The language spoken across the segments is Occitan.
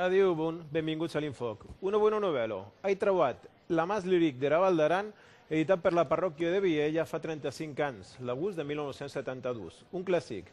Adiu, bon, benvinguts a l'Infòc. Una bona novèla, ai trauat La Mas Lyrique dera Val d'Aran editat per la parròquia de Vielha fa 35 ans, l'agost de 1972. Un classic.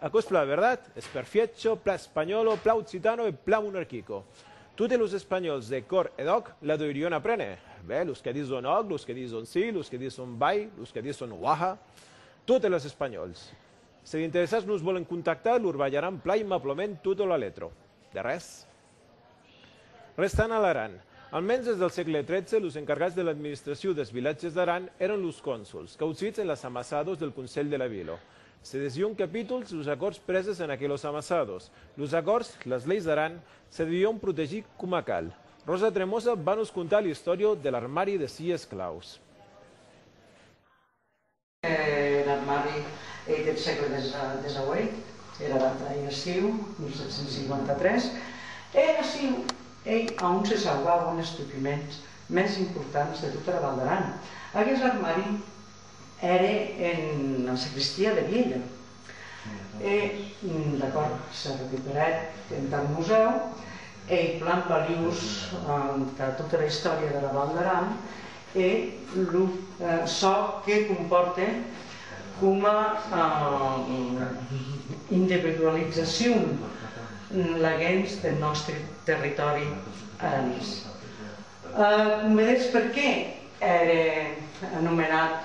Aquò es plan verdat, es perfiècho, plan espanhòlo, plan occitano e plan monarquico. Totes los espanhòls de còr e d'òc la deurion aprene. Bèh, los que dison òc, los que dison si, los que dison vai, los que dison uaha. Totes les espanhòls. Se d'interessats nos vòlen contactar, lor balharam plan aimablament tota la letra. De res. Restant a l'Aran. Al mens des del sègle XIII, los encargats de l'administraciu dels vilatges d'Aran èran los cònsols, qu'autrits en las amassados del conselh de la vila. Se desión capítols los acòrds preses en aquelos amassados. Los acòrds, las leis d'Aran, se devión protegir coma cal. Rosa Tremosa va nos contar l'istòria de l'armari de sies claus. En armari ei deth sègle desaueit, era data ei estiu 1753, e aciu ei a on se sauvauen es documents mès importants de tota era Val d'Aran. Aguest armari ère ena sagristia de Vielha. E d'acòrd, se recuperèt entath musèu ei plan valiós entà tota era istòria dera Val d'Aran e lo çò que compòrte coma individualizacion laguens deth nòste territòri aranés. Combedetz perqué ère anomenat?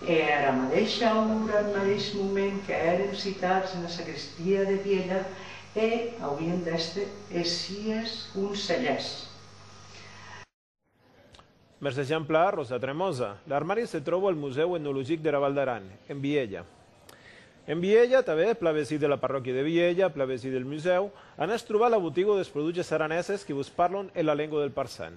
E era madeisha ora, en madeis moment qu'èrem citats ena sagristia de Vielha, e auien d'èster es sies conselhèrs. Mès exemple, Rosa Tremosa. L'armari se tròba al Musèu Etnologic dera Val d'Aran, en Vielha. En Vielha, tanben, plan vesí de la parròquia de Vielha, plan vesí del Musèu, anatz trobar la botiga des produches araneses que vos parlon en la lengua del parçan.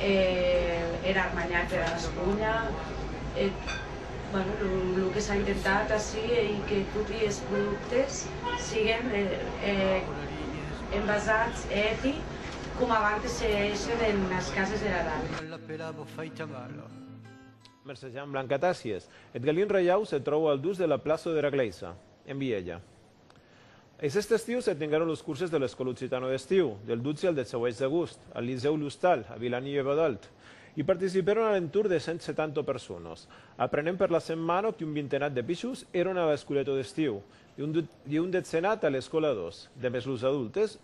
e er armanhat dera Gasconha, eth bueno lo que s'a intentat ací ei que toti es productes siguen envasats e hèti com abantes se hèissen enas cases dera dada. Mercè Jean Blanc Atassi es eth galin reiau se tròu al dus de la plaço dera glèisa, en Vielha. Es est estiu se tenguèron los curses de l'Escòla Occitano d'Estiu, del 12 al 18 d'agost, al Licèu L'Ostal, a Vilanie-Uèvadòlt. I participèron a l'entorn de 170 personas. Aprenent per la setmana qu'un vintenat de pichons èron a l'Escoleta d'Estiu, un detzenat a l'Escòla 2, demest los adultes,